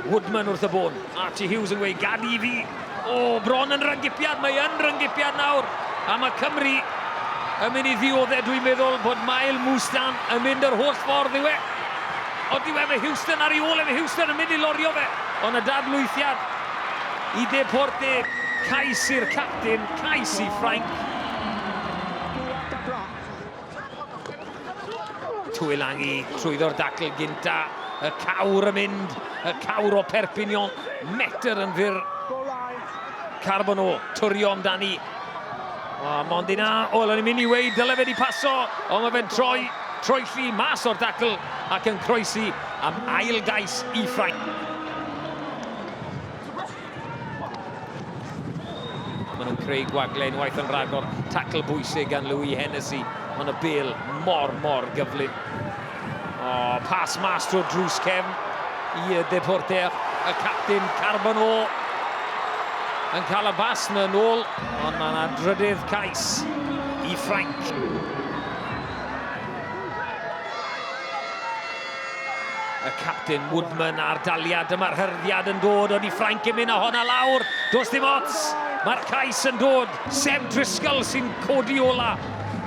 Woodman wrth y bôn. Archie Hughes yn gweud, gad i fi. O, bron yn rangipiad, mae yn rangipiad nawr. A mae Cymru yn mynd i ddioddau, dwi'n meddwl bod Mael Mwstan yn mynd yr holl ffordd i we. Ond i we, mae Houston ar ei ôl, mae Houston yn mynd i lorio fe. Ond y dadlwythiad i Deporte, cais i'r captain, cais i Ffrainc. Tuilangi trwyddo'r dacl gynta, y cawr yn mynd, y cawr o Perpignan, metr yn fyr. Carbono, turio amdani. O, mond yna, o, lwn i'n mynd i wei, dyle fe di paso, ond mae fe'n troi, troi lli mas o'r dacl ac yn croesi am ail gais i Ffrainc. Maen nhw'n creu gwagle unwaith yn rhagor. Tacl bwysig gan Louis Hennessy. Ond y bil mor, mor gyflym. O, pas mas trwy drws cefn i y deporter. Y captain Carbonó yn cael y bas na nôl. Ond mae yna drydydd cais i Ffrainc. Y capten Woodman a'r daliad, dyma'r hyrddiad yn dod o di Ffrainc yn mynd â honna lawr. Does dim ots, mae'r cais yn dod. Seb Driscoll sy'n codi ola.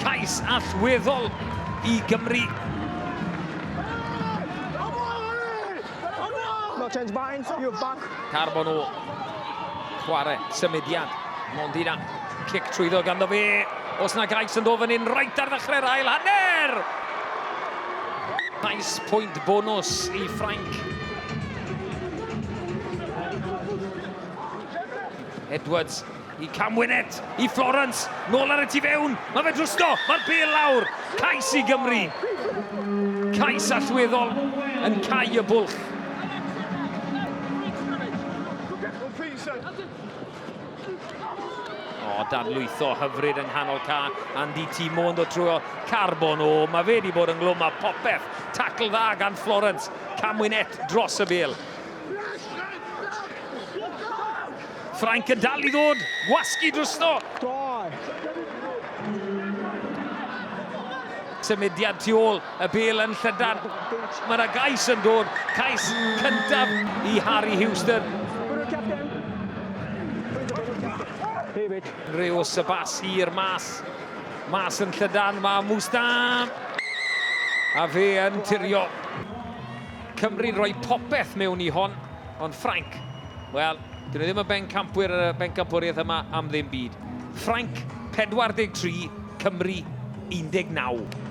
Cais allweddol i Gymru. No change behind, you're back. Carbon o chwarae, symudiad, Mondina. Cic trwyddo ganddo fe. Os na gais yn ddo fan hyn, reit ar ddechrau'r ail hanner! Nice pwynt bonws i Ffrainc. Edwards i Cam Winnet, i Florence, nôl ar y tu fewn, mae fe drwsdo, mae'r bel lawr, cais i Gymru. Cais allweddol yn cau y bwlch. O, dan lwytho hyfryd yng nghanol ca. Andy T. Mo'n dod trwy o carbon. O, mae fe wedi bod yn glwm a popeth. Tacl dda gan Florence. Camwynet dros y bel. Ffrainc yn dal i ddod. Gwasgu drwsno. Symudiad tu ôl. Y bêl yn llydar. Mae yna gais yn dod. Cais cyntaf i Harry Houston. Rhyw sybas i'r mas. Mas yn llydan. Mae Mwsta. A fe yn tirio. Cymru roi popeth mewn i hon. Ond Ffrainc, wel, dyn nhw ddim yn bencampwyr y bencampwriaeth yma am ddim byd. Ffrainc 43, Cymru 19.